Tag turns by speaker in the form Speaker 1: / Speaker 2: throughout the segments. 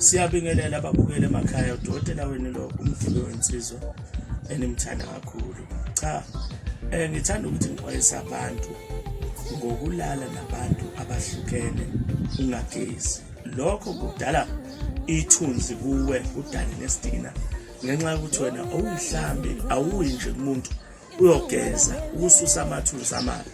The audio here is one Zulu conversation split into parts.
Speaker 1: Siyabingelela ababukeli emakhaya udokotela wenu lo umdluli wensizwa enimthanda kakhulu. Cha eh ngithanda ukuthi ngixwayise abantu ngokulala nabantu abahlukene ungagezi. Lokho kudala ithunzi kuwe kudale nesdina ngenxa yokuthi wena awuyihlambi awuyi nje kumuntu uyogeza ukususa amathuzi amali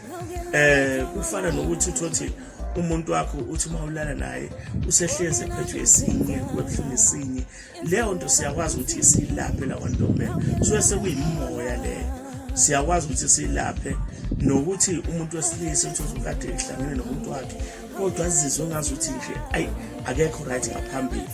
Speaker 1: eh kufana nokuthi uthothi umuntu wakho uthi uma ulala naye usehlezi ephethwe esinye kubuhlungu esinye leyo nto siyakwazi ukuthi silaphe la kwantombela suke sekuyimoya leyo siyakwazi ukuthi silaphe nokuthi umuntu wesilisa uthi uzokade ehlangene nomuntu wakhe kodwa azizwe ngazuthi nje ayi akekho right ngaphambili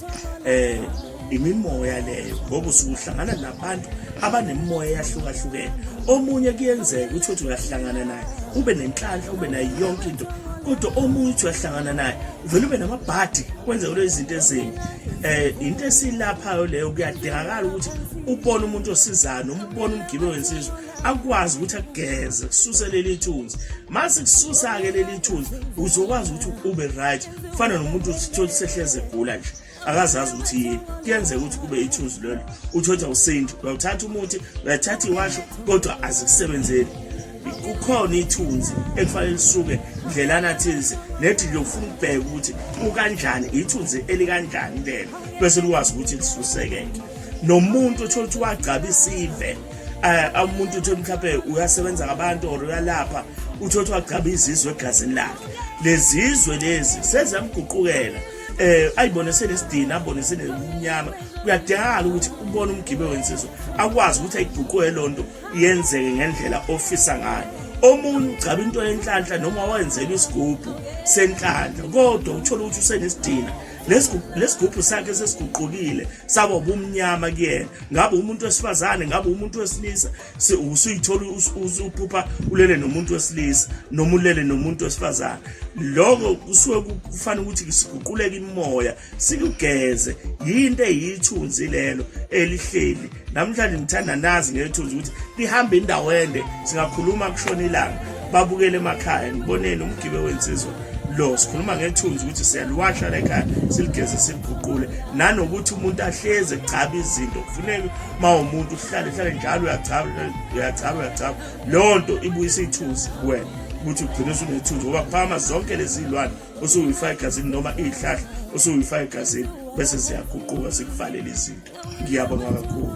Speaker 1: eh imimoya leyo ngoba usuhlangana nabantu abanemimoya eyahlukahlukene omunye kuyenzeka ukuthi uthi uyahlangana naye ube nenhlanhla ube nayo yonke into kodwa omunye uthi uyahlangana naye uvele ube namabhadi kwenze kulo izinto ezimbi eh into esilaphayo leyo kuyadingakala ukuthi ubone umuntu osizayo noma ubone umgibe wensizwa akwazi ukuthi akugeze kususe leli thunzi mase kususa ke leli thunzi uzokwazi ukuthi ube right kufana nomuntu uthola sehleze egula nje akazazi ukuthi yini kuyenzeka ukuthi kube ithunzi lelo uthotha usintu uyawuthatha umuthi uyathatha iwasho kodwa azikusebenzeli kukhona ithunzi ekufanele lisuke ndlelana thize nethi liyofuna ukubheka ukuthi ukanjani ithunzi elikanjani lelo bese likwazi ukuthi lisuseke nomuntu othola ukuthi wagcaba isive eh, um umuntu uthi mhlawumbe uyasebenza ngabantu or uyalapha uthi othi wagcaba izizwe egazini lakhe lezizwe lezi seziyamguqukela eh ayibone senesidina abone senemnyama kuyadingakala ukuthi ubone umgibe wensizwa akwazi ukuthi ayiguquke lonto yenzeke ngendlela ofisa ngayo omunye ugcaba into yenhlanhla noma wayenzelwa isigubhu senhlanhla kodwa uthola ukuthi usenesidina lesigubhu sakhe sesiguqukile saba ubumnyama kuyena ngabe umuntu wesifazane ngabe umuntu wesilisa usuyithola usuphupha ulele nomuntu wesilisa noma ulele nomuntu wesifazane lokho kusuke kufanele ukuthi siguquleke imoya sikugeze yinto eyithunzi lelo elihleli namhlanje ngithanda nazi ngethunzi ukuthi lihambe indawo ende singakhuluma kushona ilanga babukele emakhaya ngiboneni umgibe wensizwa lo sikhuluma ngethunzi ukuthi siyaliwasha lekhaya siligeze siliguqule nanokuthi umuntu ahleze gcaba izinto kufuneka uma umuntu uhlale hlale njalo uyagcaba uyagcaba uyagcaba leyo nto ibuyisa ithunzi kuwena ukuthi ugcine usunethunzi ngoba phama zonke lezi lwane usuyifaka egazini noma iy'hlahla usuyifaka egazini bese ziyaguquka zikuvalele izinto ngiyabonga kakhulu